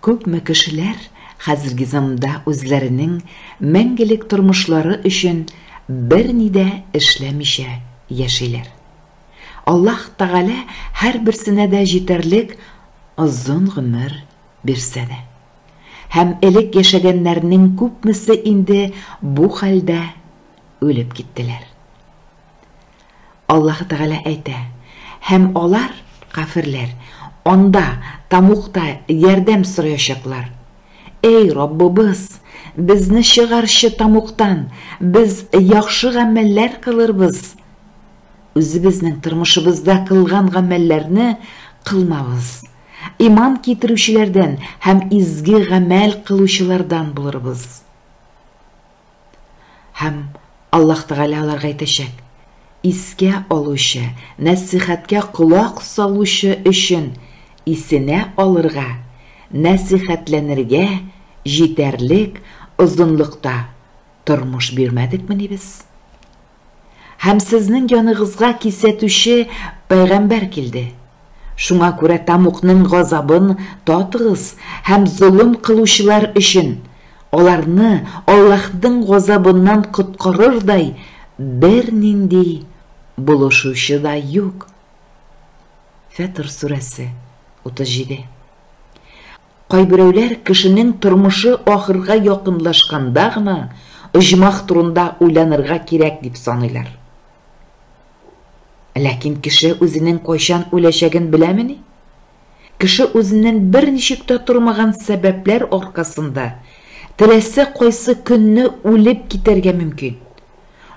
Күпме кешеләр хәзерге заманда үзләренең мәңгелек тормышлары өчен берни дә эшләмичә яшиләр. Аллаһ Тәгалә һәрберсенә дә җитәрлек озын гомер бирсә дә. Һәм элек яшәгәннәрнең күпмесе инде бу хәлдә үлеп киттеләр. Аллаһы Тәгалә әйтә, Һәм алар, каферләр, анда, Тамукта, ярдәм сораячаклар. Әй, Раббыбыз, безне чыгарчы Тамуктан, без яхшы гамәлләр кылырбыз. Үзебезнең тормышыбызда кылган гамәлләрне кылмабыз. Иман китерүчеләрдән һәм изге гамәл кылучылардан булырбыз. Һәм Аллаһ Тәгалә аларга әйтәчәк, Искә алучы, нәсыйхәткә колак салучы өчен исенә алырга, нәсыйхәтләнергә җитәрлек озынлыкта тормыш бирмәдекмени без? Һәм сезнең яныгызга кисәтүче пәйгамбәр килде. Шуңа күрә Тамукның газабын татыгыз һәм золым кылучылар өчен, аларны Аллаһның газабыннан коткарырдай бернинди булышучы да юк. Фәтыр сүрәсе, 37. Кайберәүләр кешенең тормышы ахырга якынлашканда гына оҗмах турында уйланырга кирәк дип саныйлар. Ләкин кеше үзенең кайчан үләчәген беләмени? Кеше үзеннән берничек тә тормаган сәбәпләр аркасында теләсә кайсы көнне үлеп китәргә мөмкин.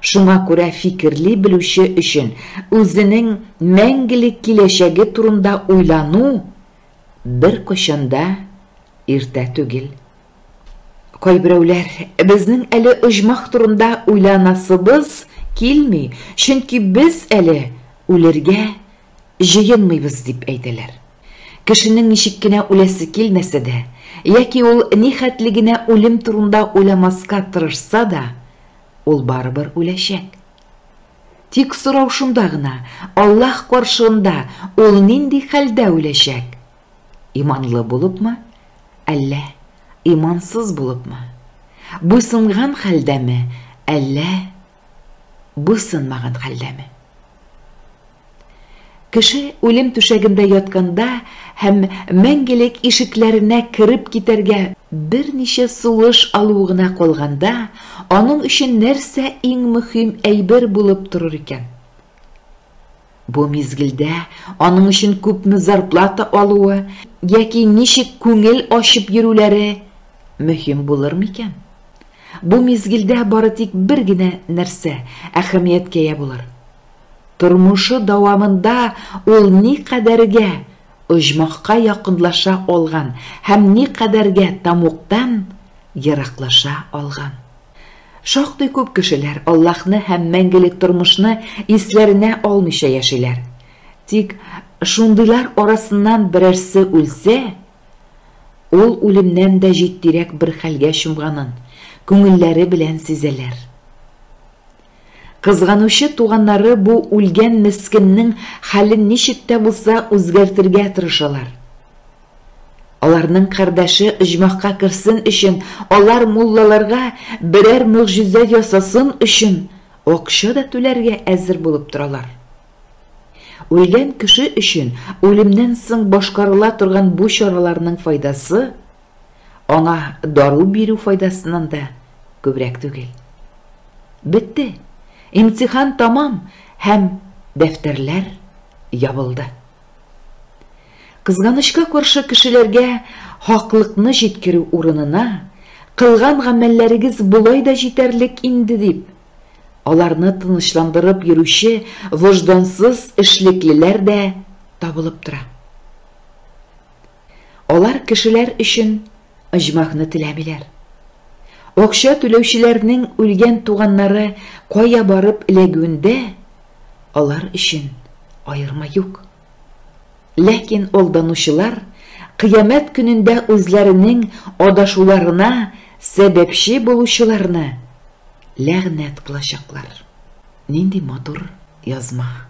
Шуңа күрә фикерли белүче өчен үзенең мәңгелек киләчәге турында уйлану Беркайчан да иртә түгел. Кайберәүләр, безнең әле оҗмах турында уйланасыбыз килми, чөнки без әле үлергә җыенмыйбыз, дип әйтәләр. Кешенең ничек кенә үләсе килмәсә дә, яки ул нихәтле генә үлем турында уйламаска тырышса да, ул барыбер үләчәк. Тик сорау шунда гына, Аллаһ каршында ул нинди хәлдә үләчәк? Иманлы булыпмы, әллә имансыз булыпмы? Буйсынган хәлдәме, әллә буйсынмаган хәлдәме? Кеше үлем түшәгендә ятканда һәм мәңгелек ишекләренә кереп китәргә берничә сулыш алу гына калганда, аның өчен нәрсә иң мөһим әйбер булып торыр икән? Бу мизгелдә аның өчен күпме зарплата алуы яки ничек күңел ачып йөрүләре мөһим булыр микән? Бу мизгелдә бары тик бер генә нәрсә әһәмияткә ия булыр. Тормышы дәвамында ул никадәргә оҗмахка якынлаша алган һәм никадәргә тәмугтан ераклаша алган? Шактый күп кешеләр Аллаһны һәм мәңгелек тормышны исләренә алмыйча яшиләр. Тик шундыйлар арасыннан берәрсе үлсә, ул үлемнән дә җитдирәк бер хәлгә чумганын күңелләре белән сизәләр. Кызганучы туганнары бу үлгән мескеннең хәлен ничек тә булса үзгәртергә тырышалар. Аларның кардәше оҗмахка керсен өчен, алар муллаларга берәр могҗиза ясасын өчен акча да түләргә әзер булып торалар. Үлгән кеше өчен үлемнән соң башкарыла торган бу чараларның файдасы Аңа дару бирү файдасыннан да күбрәк түгел. Бетте. Имтихан тамам һәм дәфтәрләр ябылды. Кызганычка каршы кешеләргә хаклыкны җиткерү урынына, кылган гамәлләрегез болай да җитәрлек инде дип, аларны тынычландырып йөрүче вождансыз эшлеклеләр дә табылып тора. Алар кешеләр өчен оҗмахны теләмиләр. Акча түләүчеләрнең үлгән туганнары кая барып эләгүендә алар өчен аерма юк. Ләкин алданучылар кыямәт көнендә үзләренең адашуларына сәбәпче булучыларны ләгънәт кылачаклар. Нинди матур язма!